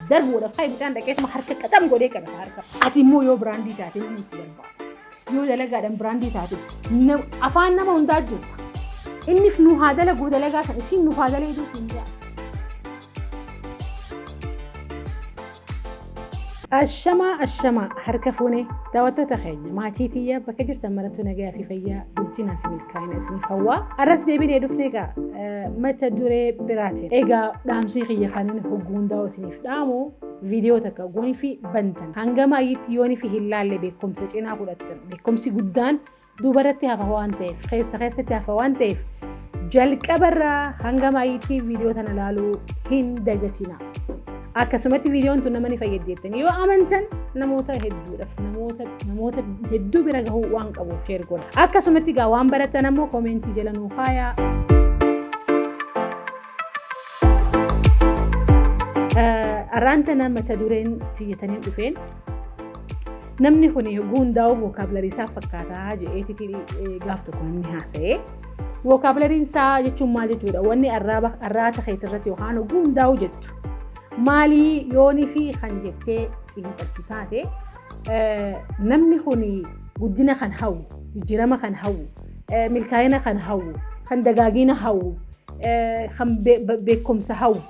darbuudhaaf ka'e mucaan dhaqeetuma harka qaxam godhee qabata harka. Ati immoo yoo biraandii taate inni si barbaada. Yoo dalagaadhaan biraandii taate na- afaan nama hundaa jirta. Innis nu haa dalaguu dalagaa sana isiin nu haa dalaguu siin jaa. Ashamaa ashamaa harka fuunee daawwattoota keenya maatii tiyyaa bakka jirtan marattuu nagaa fi fayyaa guddinaa fi milkaa'ina. Kaayina isiniif hawwaa. Arras deebinee dhufnee egaa mata duree biraatiin. Egaa dhaamsii kiyya kanin hogguu hundaa'u isiniif dhaamu viidiyoo takka goonii fi bantan. Hanga maayyiitti yoonii fi hin laalle beekumsa cinaa fudhattan. Beekumsi guddaan duubarratti hafa waan ta'eef keessa keessatti hafa waan ta'eef jalqabarraa hanga maayyiitti viidiyoo tana laaluu hin dagatinaa. Akkasumatti viidiyoon tun nama ni fayyaddi jettanii yoo amantan namoota hedduudhaaf namoota namoota hedduu bira gahuu waan qabuuf sheer godha. Akkasumatti egaa waan barattan ammoo koomentii jala nuu kaayaa. Arraan tana mata dureen tiyyatanii dhufeen namni kun hundaa'uu vookaabilarii isaa fakkaataa jedhee gaaf tokko namni haasa'ee Wookaabulariin isaa jechuun maal jechuudha? Wanni arraaba arraata keetii irratti yookaan oguu hundaa'u jettu. Maalii yoonii fi kan jettee xiinxaltu taate namni kun guddina kan hawwu, jijjiirama kan hawwu, milkaa'ina kan hawwu, kan dagaagina hawwu, kan beekumsa hawwu.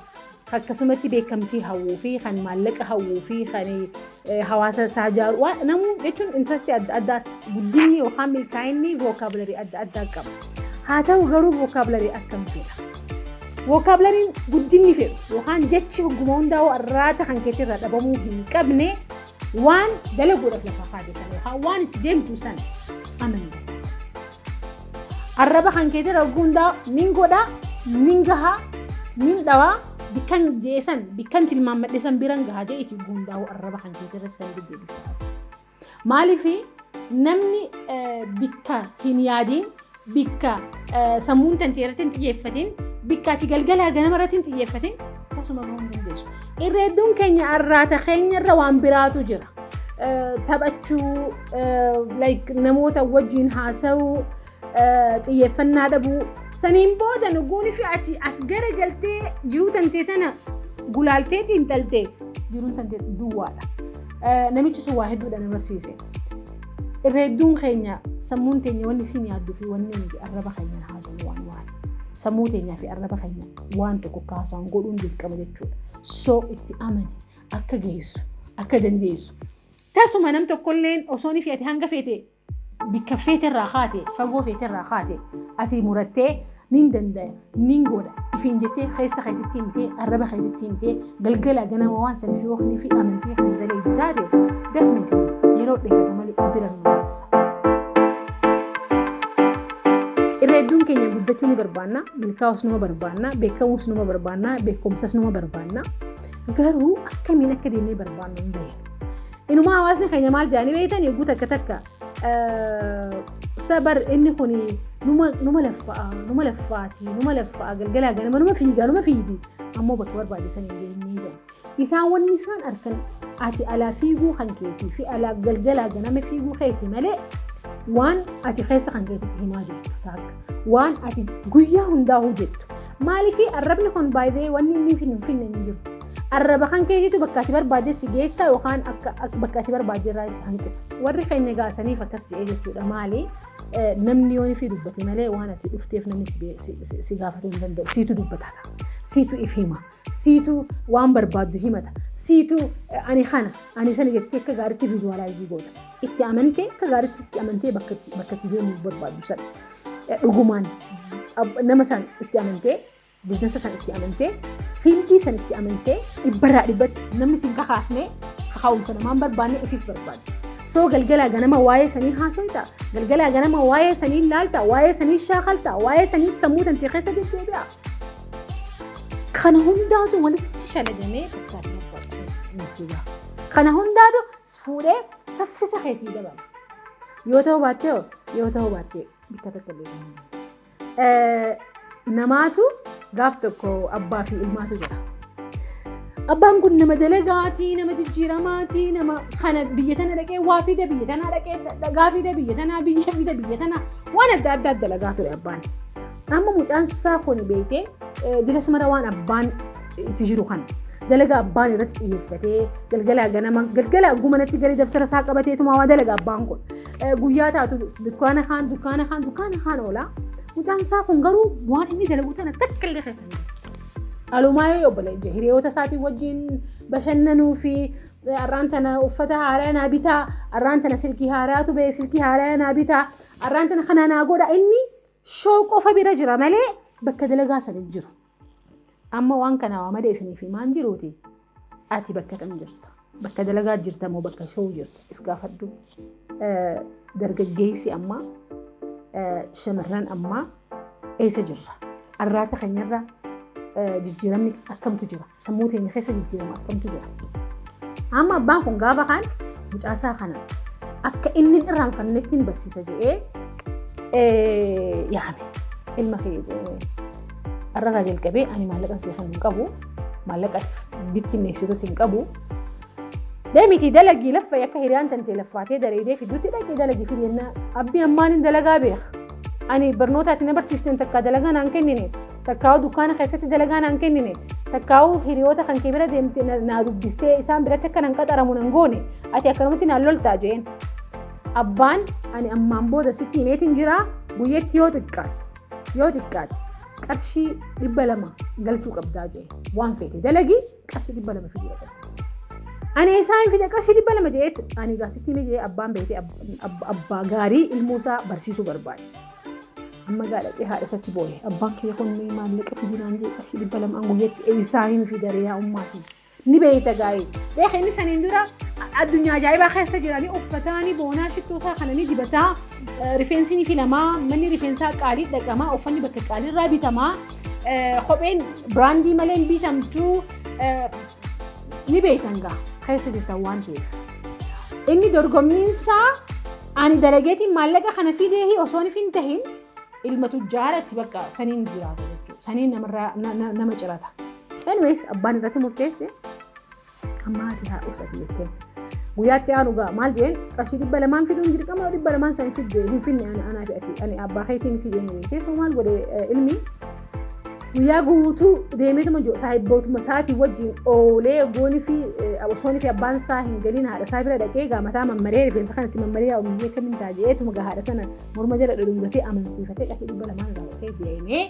akkasumatti beekamtii hawwuu fi kan maallaqa hawwuu fi kan hawaasa isaa ijaaru waan namuu jechuun intrastii adda addaas guddinni yookaan milkaa'inni vookaabilarii adda addaa qaba. Haa ta'u garuu vookaabilarii akkam fedha? Vookaabilariin guddinni fedhu yookaan jechi hogguma hundaa'uu arraata kan keetti irraa dhabamuu hin qabne waan dalaguudhaaf lafa kaa'e sana yookaan waan itti deemtu sana amanna. Arraba kan keetii irra hogguu hundaa nin godha, nin gaha, nin dhawa, bikkan jeesan, bikkan tilmaammadhe san biran gaha jee itti hogguu hundaa'u arraba kan keetii irratti san deddeebisa haasa. Maaliif namni eh, bikka hin yaadiin, bikka eh, sammuun tantee irratti hin xiyyeeffatiin, bikka ati galgalaa ganama irratti hin xiyyeeffatiin tasuma bahuu hin dandeessu. Irra hedduun keenya arraata keenya irra waan biraatu jira. taphachuu like namoota wajjin haasa'uu xiyyeeffannaa dhabuu saniin booda nuguuni fi ati as gara galtee jiruu tantee tana gulaaltee xiinxaltee jiruun tantee duwwaadha. Namichi sun waa hedduudha na barsiise. Irra hedduun keenya sammuun teenya wanni isin yaadduu fi wanni nuti arraba keenya haasawuu waan waan sammuu teenyaa fi arraba keenya waan tokko kaasaan godhuun dirqama jechuudha. So itti amani. akka geessu akka dandeessu. Tasuma nam tokkolleen osoo ni feete hanga feete bikka feete irraa kaate fagoo feete irraa kaate ati murattee nin dandaya nin godha ifiin jettee keessa keetitti himtee arraba keetitti himtee galgala ganama waan saniif yoo kilifi amantee kan dalagdu taate definitely yeroo dheerata malee bira hin geessa. Irra hedduun keenya guddachuu ni barbaanna, milkaa'us numa barbaanna, beekamuus numa barbaanna, beekumsas numa barbaanna. Garuu akkamiin akka deemnee barbaannu hin beeknu. Inumaa hawaasni keenya maal jedhanii beektan eeguu takka takka sabar inni kun numa laffa'a numa laffaati numa laffa'a galgalaa ganama numa fiigaa numa fiigdi ammoo bakka barbaachisan hin geenyee jedha. Isaan wanni isaan arkan ati alaa fiiguu kan keetii fi alaa galgalaa ganama fiiguu keetii malee waan ati keessa kan keetitti himaa jirtu taakka waan ati guyyaa hundaa hojjettu Maaliif arrabni kun baay'ee wanni inni hin finne hin jiru. Arraba kan keetiitu bakka ati barbaadde si geessa yookaan bakka ati barbaadde irraa si hanqisa. Warri keenya gaasaniif akkas jedhee jechuudha maali namni yoo fi dubbate malee waan ati dhufteef namni si gaafatuu hin danda'u siitu dubbata siitu if hima siitu waan barbaaddu himata siitu ani kana ani sana jettee akka gaariitti vizuwaalaayizii goota itti amantee akka gaariitti itti amantee bakka itti deemuu barbaaddu sana. dhugumaan nama san itti amantee biiznasa san itti amantee fiildii san itti amantee dhibbarraa dhibbatti namni sin kakaasne kakaa'umsa namaan barbaanne ifiif barbaanne. Soo galgalaa ganama waa'ee sanii haasofta galgalaa ganama waa'ee sanii laalta waa'ee sanii shaakalta waa'ee sanii sammuu tantee keessa deddeebi'a. Kana hundaatu walitti shalagamee fakkaatee Kana hundaatu fuudhee Saffisa kee sii dabala. Yoo ta'uu baattee hoo? Yoo ta'uu baattee bakka tokko deebiin. Namaatu gaaf tokko abbaa fi ilmaatu jira. Abbaan kun nama dalagaatii, nama jijjiiramaatii, nama kana biyya tana dhaqee waa fida, biyya tanaa dhaqee dhagaa fida, biyya tanaa biyya fida, biyya tanaa waan adda addaa dalagaa ture abbaan. Amma mucaan isaa kun beekee dila sumara waan abbaan itti jiru kana. Dalaga abbaan irratti xiyyeeffatee galgalaa ganama galgalaa gumanatti galee daftara isaa qabatee tumaa waa dalaga abbaan kun. Guyyaa taatu dukkaana kaan dukkaana kaan dukkaana kaan oola. Mucaan isaa kun garuu waan inni dalagu tana takka illee keessa hin Alumaayee obboleeyya hiriyoota isaatiin wajjin bashannanuu fi arraan tana uffata haaraa naa bitaa, arraan tana silkii haaraatu ba'e silkii haaraa naa bitaa, arraan tana kana naa godha inni shoo qofa bira jira malee bakka dalagaa sana hin jiru. Amma waan kana waa malee isiniif himaan jiruuti. Ati bakka kam jirta? Bakka dalagaa jirta moo bakka showuu jirta? If gaafadhu. Dargaggeessi ammaa shamarran ammaa eessa jirra? Arraata keenyarra jijjiiramni akkamtu jira? Sammuu teenya keessa jijjiirama akkamtu jira? Amma abbaan kun gaafa kaan mucaasaa kana akka inni hin irraanfannetti hin barsiisa jedhee yaame ilma kee jedhee. Har'a irraa jalqabee ani maallaqan siif hin qabu. Maallaqa bittinneessitu siin qabu. Deemitii dalagii laffa akka hiriyaan tantee laffaatee dareedee fidduutti dhaqee dalagii fidee naa abbi ammaan hin dalagaa beeka. Ani barnootaatti na barsiisteen takkaa dalagaa naan kennine takkaa'uu dukkaana keessatti dalagaa naan kennine takkaa'uu hiriyoota kan kee bira deemte na- naa dubbistee isaan biratti akka nan qaxaramu nan goone ati akkanumatti naan loltaa jeen. Abbaan ani ammaan booda sitti himeetiin jira guyyatti yoo xiqqaate. yoo xiqqaate qarshii dhibba lama galchuu qabdaa jee waan feete dalagii qarshii dhibba lama fiduu qabda. Ani isaa hin fide qarshii dhibba lama jeet ani gaasitti ni jee abbaan beekee abbaa gaarii ilmoo isaa barsiisuu barbaade. Amma gaadhatee haadha isatti booye abbaan kiyya kun maallaqa fidinaan jee qarshii dhibba lama an guyyatti isaa hin fidare yaa ummaatii. ni beeyta gaa'ee beeka inni saniin dura addunyaa ajaa'ibaa keessa jiranii uffataanii boonaa shittoo isaa kana ni dibataa rifeensi ni filamaa manni rifeensaa qaalii dhaqamaa uffanni bakka qaalii irraa bitamaa kopheen biraandii malee hin bitamtu ni beeytan gaa keessa jirtan waan ta'eef inni dorgommiinsaa ani dalageetiin maallaqa kana fidee osoo hin tahin Ilma tujjaarati bakka saniin jiraata jechuudha. Saniin namarraa na- na- nama cirata. Anyways abbaan irratti murteesse amma haati haa dhufsati jettee. Guyyaatti aanu gaa maal jeen qarshii dhibba lamaan fiduun dirqama dhibba lamaan san fidde hin finne ana anaa fi ati ani abbaa keetii miti jeen jeen keessoo maal godhe eh, ilmi guyyaa guutuu deemeetuma jiru saahibbootuma isaatii wajjin oolee gooni fi osooni fi abbaan isaa hin galiin haadha isaa bira dhaqee gaamataa mammaree rifeensa kanatti mammaree yaa ummii akkamiin taa'eetuma gaa haadha tana morma jala dhudhungatee amansiifatee qarshii dhibba lamaan irraa dhufee deemee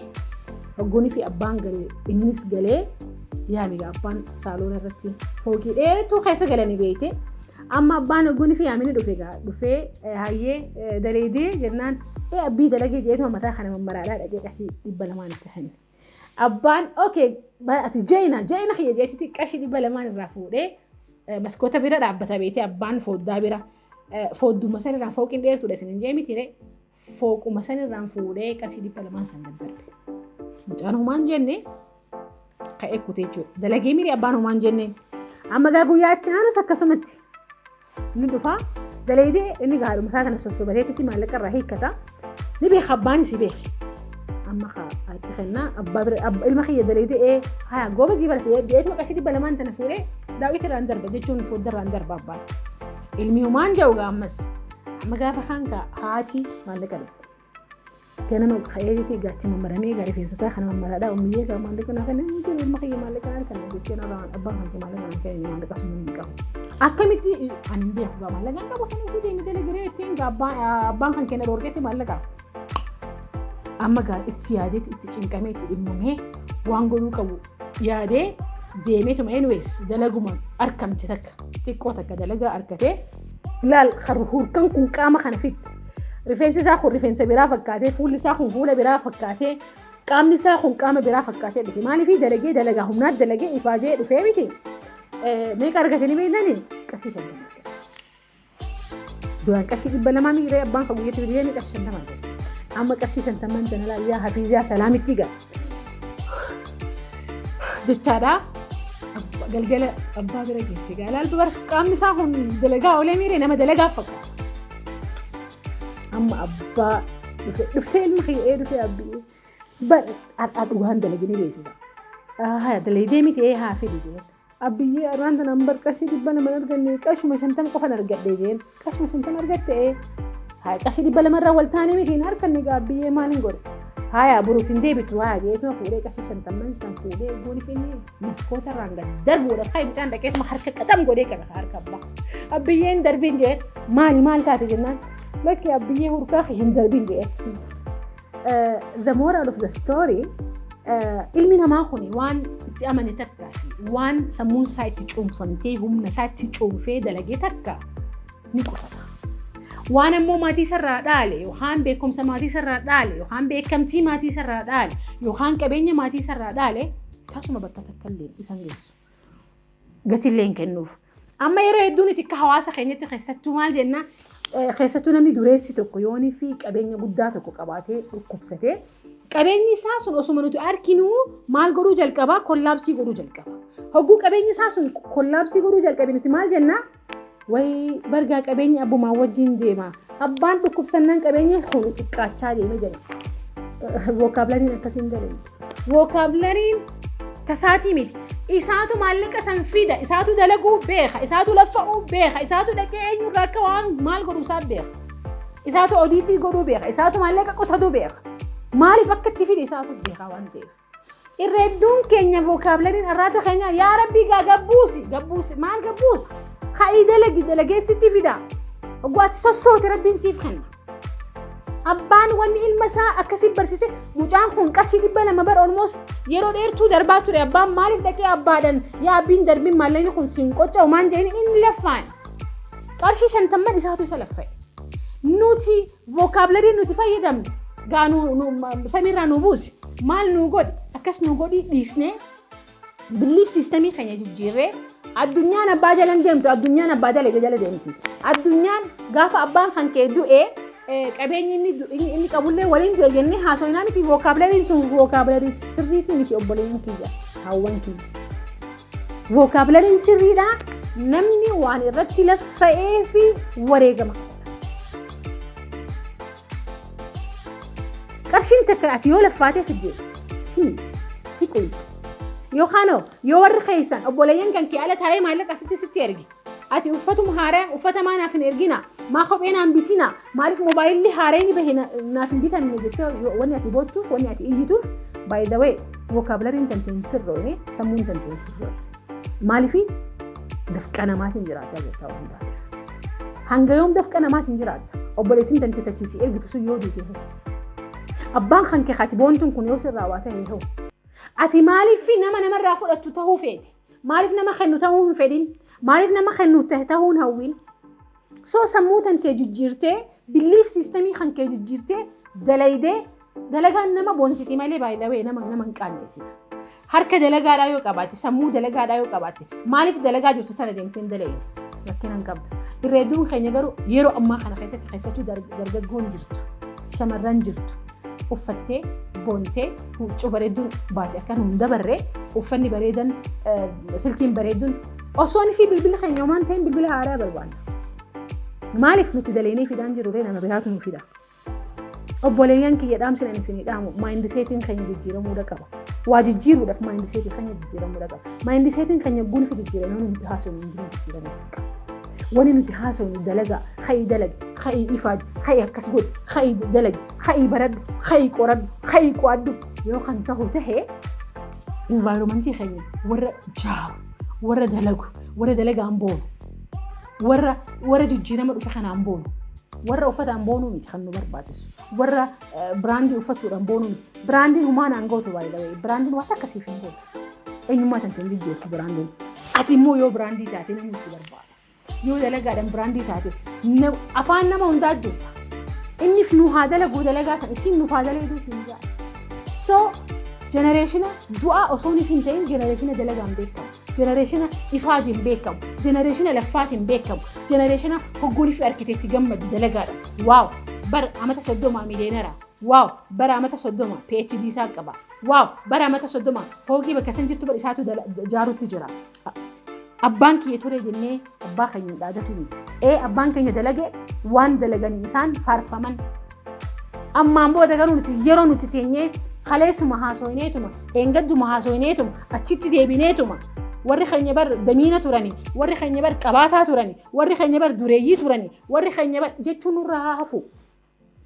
hogguunii fi abbaan galee innis galee yaame gaa abbaan saaloona irratti fookii dheetuu keessa galanii beeyte amma abbaan hogguunii fi yaamini dhufe gaa dhufee eh, hayyee eh, daleedee jennaan ee abbii dalagee jeetuma mataa kana mammaraadhaa dhaqee qarshii dhibba lamaan itti kenne. Abbaan okay bara ati jeena jeena kiyya jeetiti qarshii dhibba lamaan irraa fuudhee eh, maskoota bira dhaabbata beeyte abbaan fooddaa bira Foodduma sanirraa fooqiin dheertuudha isin hin jee miti ree. Fooquma sanirraan fuudhee qarshii dhibba lamaan san daddarbe. Mucaan homaan jenne ka'ee kutee jechuudha. Dalagee miiri abbaan homaan jenneen. Amma gaa guyyaa achi aanus akkasumatti. Inni dhufaa dalaydee inni gaadhuma isaa kana sossobateetitti maallaqa irraa hiikkata. Ni beeka abbaan si beeki. Amma kaa itti kennaa abbaa bira abba- ilma kiyya daleedee ee haa gooba sii barate jedheetuma qarshii dhibba lamaan tana fuudhee daawwiti irraan darba jechuun fodda irraan darba abbaan. Ilmi humaan jedhu gaa ammas amma gaafa kaan kaa haati maallaqa dhufte. ganama ka'eetii gaatti mammaramee gaa rifeensa isaa kana mammaraadhaa ummiyyee gaa maallaqa naa kenna hin jiru ilma kiyya maallaqa naa kenna jechuun abbaan abbaan kiyya maallaqa naa kenna maallaqa sun hin qabu. Akkamitti ani hin beeku gama lagan qabu sana ofii deemee dalagaree ittiin abbaan kan kenna dhoorgeetti maallaqa. Amma gaa itti yaadeetti itti cinqamee itti dhimmamee waan godhuu qabu yaadee deemeetuma anyways dalaguma arkamte takka xiqqoo takka dalagaa argatee laal kan hurkan kun qaama kana fitti rifeensi isaa kun rifeensa biraa fakkaatee fuulli isaa kun fuula biraa fakkaatee qaamni isaa kun qaama biraa fakkaatee dhufe maaliif dalagee dalagaa humnaat dalagee ifaajee dhufee miti. Meeqa argatanii beektanii? Qarshii shantama argatan. Duraan qarshii dhibba lamaa miiree abbaan kan guyyatti biyyee qarshii shantama argatan. Amma qarshii shantama hin tanalaa yaa hafiizaa salaamitti gala. Jechaadha. Galgala abbaa bira geesse gaala alba bara qaamni isaa kun dalagaa olee miiree nama dalagaa fakkaata. Amma abbaa dhufe dhuftee ilma kiyya ee dhufee abbii Bar har'aa dhugaan dalagee ni beeksisa. Haya dalaydee miti ee haa fidi jeen. Abbiyyee arraan tanaan bar qarshii dhibba lama hin arganne qashuma shantam qofan argadhe jeen. Qashuma shantam argatte ee. Haya qarshii dhibba lama irraa wal taanee miti hin harkanne gaa abbiyyee maal hin godhe. Haya boruutti hin deebitu haya jeetuma fuudhee qarshii shantamman san fuudhee gooni finnee maskoota irraan gad darbuudha. Haa mucaan dhaqeetuma harka qaxam godhee kana harka abbaa. Abbiyyeen darbiin jee maali maal taate jennaan. Lakki abbiyyee hurkaa hin darbiin jee. the moral of the story ilmi namaa kun waan itti amane takka waan sammuun isaa itti cuunfamtee humna isaa itti cuunfee dalagee takka ni qusata. Waan ammoo maatii isarraa dhaale yookaan beekumsa maatii isarraa dhaale yookaan beekamtii maatii isarraa dhaale yookaan qabeenya maatii isarraa dhaale tasuma bakka takka illee isan geessu. gatillee hin kennuuf. Amma yeroo hedduu nuti akka hawaasa keenyatti keessattuu maal jenna keessattuu namni dureessi tokko yoonii fi qabeenya guddaa tokko qabaatee dhukkubsatee qabeenyi isaa sun osuma nuti arkinuu maal godhuu jalqabaa kollaabsii godhuu jalqaba. Hogguu qabeenyi isaa sun kollaabsii godhuu jalqabe nuti maal jenna Way bar gaa qabeenyi abbumaan wajjin deema. Abbaan dhukkubsannaan qabeenya kun xiqqaachaa deeme jedhe. Vookaabulariin akkasiin jedhe. Vookaabulariin tasaatii miti. Isaatu maallaqa san fida, isaatu dalaguu beeka, isaatu laffa'uu beeka, isaatu dhaqee eenyurraa akka waan maal godhu isaa beeka. Isaatu odiitii godhuu beeka, isaatu maallaqa qusatuu beeka. Maaliif akka itti fide isaatu beeka waan ta'eef. Irra hedduun keenya vookaabulariin arraata keenya yaa rabbii gaa gabbuusi gabbuusi maal gabbuusa ka'ii dalagi dalagee sitti fida oguu ati sossoote rabbiin siif kenna. Abbaan wanni ilma isaa akkasii barsiise mucaan kun qarshii dhibba lama bara olmoos yeroo dheertuu darbaa ture abbaan maaliif dhaqee abbaadhan yaa abbiin darbiin maallaqni kun siin qocca'u maan jedhanii inni laffaan qarshii shantamman isaatu isa laffa'e. Nuti Vocabulary nuti fayyadamnu gaa nu, nu, ma- samiirraa nu buusi. Maal nuu godhi? Akkas nuu godhi dhiisnee biliif siistemii keenya jijjiirree addunyaan abbaa jala hin deemtu addunyaan abbaa dalage jala deemti addunyaan gaafa abbaan kan kee du'e eh, qabeenyi inni du- inni inni qabullee waliin du'e jennee haasofnaa miti vookaabilariin sun vookaabilarii sirriitii miti obboleeyyan kiyya haawwan kiyya Vookaabilariin sirriidha. Namni waan irratti laffa'ee fi wareegama. Qarshiin takka ati yoo laffaatee fidde si miti, si quuqxi. Yookaan hoo yoo warri keessan obboleeyyan kan kee ala taa'ee maallaqa sitti sitti erge Ati uffatuma haaraya uffata maa naaf hin ergina maa kophee naan bitina maaliif moobaayilli haarayni bahe na- naaf hin bitamne jettee yoo- wanni ati boochuuf wanni ati iyyituuf by the way vocabulariin tante hin sirroone sammuun tante hin sirroone maaliifi dafqa namaatiin jiraachaa jirta waan taateef hanga yoom dafqa namaatiin jiraatta obboleettiin tante tachiisii ergitu sun yoo duute hoo abbaan kan kee kati boontuun kun yoo sirraa waa ta'e hoo ati maaliif nama namarraa fudhattu ta'uu feeti Maaliif nama kennu ta'uu hin fedhin? Maaliif nama kennu ta'uu hin hawwin? Soo sammuu tan kee jijjiirtee, biliif siistemii kan kee jijjiirtee, dalaydee, dalagaan nama boonsiti malee baay'ee nama nama hin qaanneessitu. Harka dalagaadhaa yoo qabaatte, sammuu dalagaadhaa yoo qabaatte, maaliif dalagaa jirtu tana deemtee hin dalayne? Rakkina hin qabdu. Irreedduun keenya garuu yeroo ammaa kana keessatti keessattuu dargaggoon jirtu, shamarran jirtu. uffattee boontee huccuu bareedduun baate akka nuun dabarre uffanni bareedan silkiin bareedduun osoon fi bilbila keenya waan ta'in bilbila haaraa barbaanna. Maaliif nuti daleenii fidaan jiru ree nama biraatu nu fida. Obboleeyyan kiyya dhaamsin ani isinii dhaamu maayindiseetiin keenya jijjiiramuudha qaba. Waa jijjiiruudhaaf maayindiseetii keenya jijjiiramuudha qaba. Maayindiseetiin keenya guunfi jijjiiramee nuti haasofnu hin jiru jijjiiramuu qaba. Wani nuti haasofnu dalagaa, ka'ii dalagi, ka'ii ifaaji, ka'ii akkas godhi, ka'ii dalagi, ka'ii baradhu, ka'ii qoradhu, ka'ii qo'adhu yoo kan tahu tahe environmentii keenya warra jaaru, warra dalagu, warra dalagaan boonu, warra warra jijjiirama dhufe kanaan boonu, warra uffataan boonuu miti kan nu barbaachisu, warra biraandii uffachuudhaan boonuu miti. Biraandiin humaan aangootu baay'ee biraandiin waan akkasiif hin boonu. Eenyummaa tante hin jijjiirtu biraandiin. Ati immoo yoo biraandii taate namni si barbaada. Yoo dalagaadhaan biraandii taate nam- afaan nama hundaa jirta. Innis nu haa dalaguu dalagaa san isin nuuf haa dalaguu isin ja'a. So jenereeshina du'aa osoo nuuf hin ta'in jenereeshina dalagaan beekamu. Jenereeshina ifaajiin beekamu. Jenereeshina laffaatiin beekamu. Jenereeshina hoggoolii fi arkiteekti gammadu dalagaadha. Waaw! Bara amata soddoma miiliyeenara. Waaw! Bara amata soddoma PhD isaa qaba. Waaw bara amata soddoma foogii bakka isin jirtu bar isaatu dala- jaarutti jira. A- Abbaan kiyya ture jennee abbaa keenya hin dhaadatu miti. Ee abbaan keenya dalage waan dalagan isaan faarfaman. Ammaan booda garuu nuti yeroo nuti teenyee kaleessuma haasooyineetuma, dheengadduma haasooyineetuma, achitti deebineetuma. Warri keenya bar damiina turani, warri keenya bar qabaataa turani, warri keenya bar dureeyyii turani, warri keenya bar jechuun nurraa haa hafu.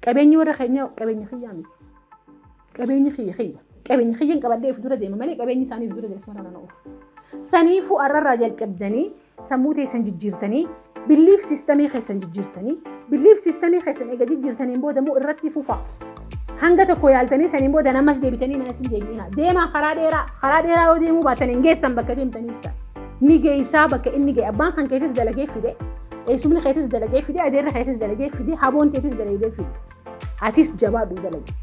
Qabeenyi warra keenyaa qabeenya kiyyaa miti. Qabeenyi kiyya kiyya. Qabeenya kiyyan qabadhee of dura deema malee qabeenyi isaanii of dura deema ismarra nana oofu. Saniifuu arrarraa jalqabdanii sammuu teessan jijjiirtanii biliif siistamii keessan jijjiirtanii biliif siistamii keessan eega jijjiirtaniin booda immoo irratti fufaa. Hanga tokko yaaltanii saniin booda namas deebitanii naatiin deebi'ina. Deemaa karaa dheeraa karaa dheeraa yoo deemuu baatan hin geessan bakka deemtanii ibsa. ni geessaa bakka inni ga'e abbaan kan keetis dalagee fide eessumni keetis dalagee fide adeerri keetis dalagee fide haboon keetis dalagee fide atis jabaadhu dalagi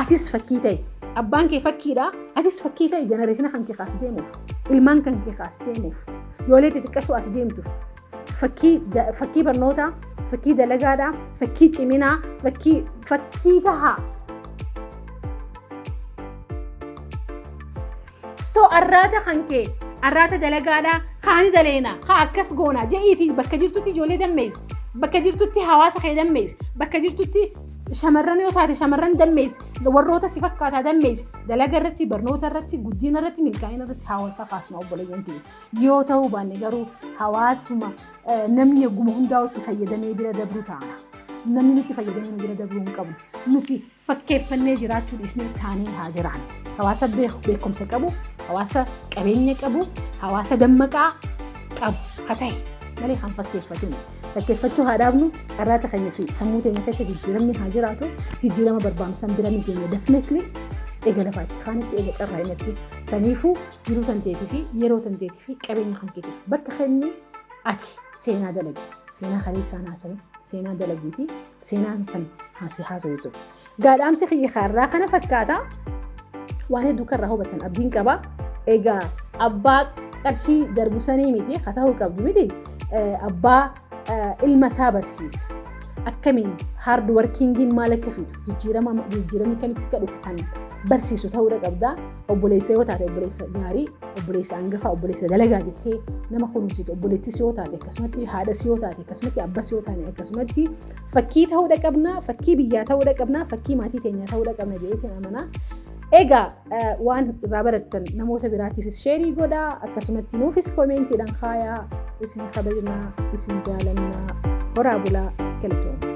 atis fakkii ta'e abbaan kee fakkiidha atis fakkii ta'e jenereeshina kan kee kaas deemuuf ilmaan kan kee kaas deemuuf yoolee xixiqqashuu as deemtuuf fakkii da- fakkii barnootaa fakkii dalagaadhaa fakkii ciminaa fakkii fakkii tahaa So arraata kan kee arraata dalagaadhaa kaani daleena haa akkas goona je'iiti bakka jirtutti ijoollee dammeessi bakka jirtutti hawaasa kee dammeessi bakka jirtutti shamarran yoo taate shamarran dammeessi warroota si fakkaataa dammeessi dalaga irratti barnoota irratti guddina irratti milkaa'ina irratti haa wal kakaasnu obboleeyyan kee yoo ta'uu baanne garuu hawaasuma eh, namni egguma hundaa itti fayyadamee bira dabruu taana. namni nutti fayyadamuu bira dabruu hin qabu. Nuti fakkeeffannee jiraachuu dhiisnee taanee haa jiraannu. Hawaasa beeku- beekumsa qabu, hawaasa qabeenya qabu, hawaasa dammaqaa qabu haa ta'e malee kan fakkeeffatin. Fakkeeffachuu haa dhaabnu, carraata keenya fi sammuu keenya keessa jijjiiramni haa jiraatu, jijjiirama barbaannu san bira ni geenya definitely. Eega lafaa itti kaanitti, eega carraa inatti saniifuu jiruu tan teetii fi yeroo tan teetii fi qabeenya kan keetiif bakka kenni ati seenaa dalagi. Seenaa kaleessaa naasanii, seenaa dalagiitii Seenaa keessan haasee haasawee ture. Gaadhaamsi kiyya kaarraa kana fakkaata. Waan hedduu karraa hubatan abdiin qaba. Egaa abbaa qarshii darbu sanii miti haa ta'uu qabdu miti abbaa ilma isaa barsiisa. Akkamiin haard warkiingiin maal akka fidu jijjiirama jijjiiramni kamitti akka dhufu kan barsiisu ta'uudha qabda. Obboleessa yoo taate obboleessa gaarii, obboleessa angafaa, obboleessa dalagaa jettee nama kunuunsitu, obboleettis yoo taate akkasumatti, haadhas yoo taate akkasumatti, abbas yoo taane akkasumatti fakkii ta'uudha qabna, fakkii biyyaa ta'uudha qabna, fakkii maatii keenyaa ta'uudha qabna jedheetiin amanaa. Egaa waan irraa barattan namoota biraatiifis sheerii godhaa akkasumatti nuufis komeentiidhaan kaayaa isin kabajnaa isin jaalannaa horaa bulaa galatooma.